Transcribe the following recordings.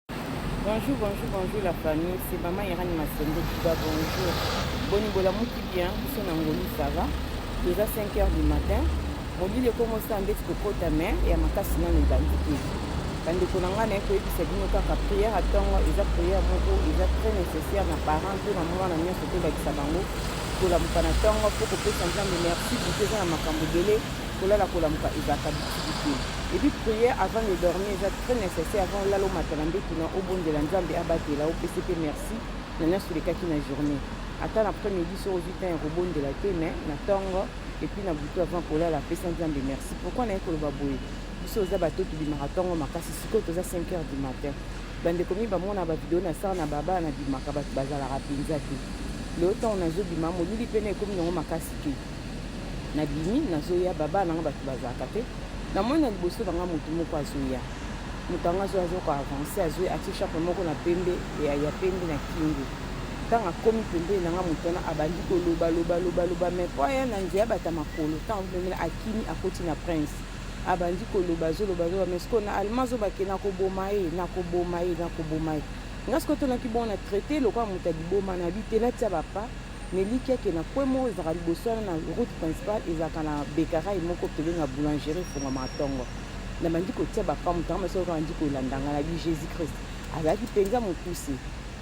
Bonjour, bonjour, bonjour la famille. C'est maman Irani Massende qui va bonjour. Boni bolamuki bien, biso na ngolu ça va. Toza 5 heures du matin. Mobili ekomosa ndeti kokota mais ya makasi nano ebandi te. bandeko na ngai naye koyebisa bino kaka priere ya ntongo eza priere moko eza très nécessaire na parent mpe na mwana nyonso tolakisa bango kolamuka na ntongo mpo kopesa nzambe merci kote eza na makambo ebele Kolala kolamuka ezalaka bitiki te. Et puis prière avant de dormir eza très nécessaire avant olala omata na mbetu na obondela Nzambe abatela opesi pe merci na nionso olekaki na journée. Ata na après midi soki ozwi temps ya kobondela te mais na tongo et puis na butu avant kolala pesa Nzambe merci. Pourquoi naye koloba boye? Biso oza bato tobimaka tongo makasi sikoyo toza 5 heures du matin. Bandeko mi bamona ba video na sala na baba na bimaka bato bazalaka mpenza te. Lelo ntango nazobima molili pene ekomi nango makasi te. nabimi nazoya babaa nanga bato bazalaka te na moni na liboso na nga moto moko azoya moto yango azoya azoko avance azoya atie chape moko na pembe ya, ya pembe na kingo ntango akomi pembeni na nga moto wana abandi koloba loba loba loba mai mpo aya na nzela bata makolo ntango pembeni akimi akoti na prince abandi koloba azoloba azoloba mai sikoyo na allemand azobake nakoboma ye nakoboma ye nakoboma ye nga sikoyo tonaki bongo na traite lokola moto ya liboma na bi te natia bapa Mais likia ke na coin moko ezalaka liboso wana na route principale ezalaka na bekarai moko pembeni na boulangerie efongwamaka tongo nabandi kotia bapa moto yango masoko abandi kolanda ngai nabi jésus christ azalaki mpenza mokuse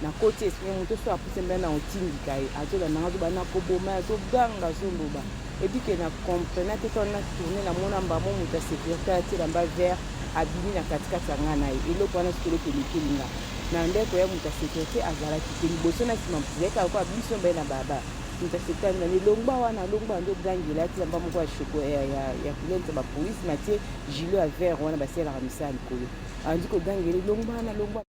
nakoti esprit moto so apuse mbela na otindika ye azolanda ngai azobanda koboma ye azoganga azoloba ebi ke na comprena te twana na tourne na mona mbamo moto ya securité atela mba vert abimi na katikati ya nga na ye eloko wana sikoloki elekeli nga na ndeko ya moto ya securité azalaki te liboso na nsima mozalika lokola biso mbaye na baba moto ya securité azali elongba wana alongba yango ogangela atela mba moko ya shoko ya kulente bapolisi matie gilo ya vert wana basalelaka misala likolo andi kogangela elongba wana longba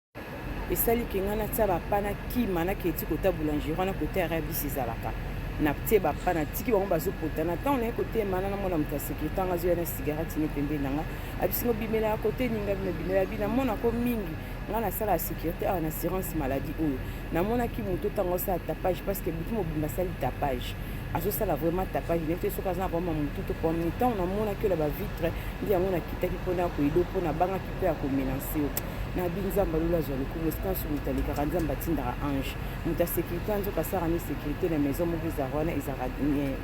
esali ke ngai natia bapa na kima nakei ti kota boulangerie wana kota ya rabisi ezalaka natie bapa natiki bango bazopota na ntango naye kotema na namona moto ya sekirite yango azoya na sigarati ne pembeni na ngai abisingo bimela ya kote ninga bino bimela bi namonako mingi ngai nasala ya sekirite awa na assurance maladie oyo namonaki moto ntango asala tapage parce que butu mobimba asali tapage azosala vraiment tapage ne te soki aza na bama motu to pomni ntango namonaki oyo na bavitre nde yango nakitaki mpona ya koyedo mpo nabangaki mpe ya komenanse yo na bi nzambe alula azwa lokumu esika nso moto alekaka nzambe atindaka ange moto ya sécurité anzoka asaka ni sécurité na maison moko ezalaka wana ezalaka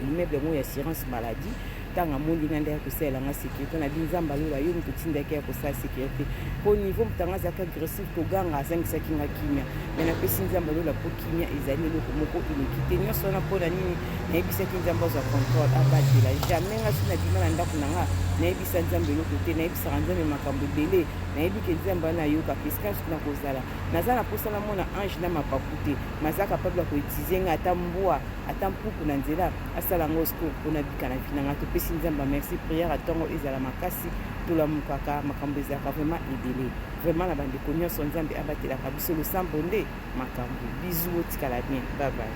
immeuble yango ya assurance maladie ntango amoni nga nde ya kosalela nga sécurité na bi nzambe alula yo moto otindaki ya kosala sécurité mpo niveau moto yango azalaki agressif koganga azangisaki nga kimia me napesi nzambe alula mpo kimia ezali eloko moko eleki te nyonso wana mpo na nini nayebisaki nzambe azwa contrôle abatela jamais nga soki nabima na ndako na nga nayebisa nzambe eloko te nayebisaka nzambe makambo ebele Nayebi ke Nzambe wana ayokaka esclave na kozala. Naza na posa na mona ange na mapapu te, mais aza capable ya ko utiliser nga ata mbwa, ata mpuku na nzela asala ngo scour mpo nabika na vie na nga. Topesi Nzambe ba merci, prière ya tongo ezala makasi, tolamukaka, makambo ezalaka vraiment ebele. Vraiment na bandeko nionso, Nzambe abatelaka biso, losambo nde makambo. Bisous, botikala bien, bye bye.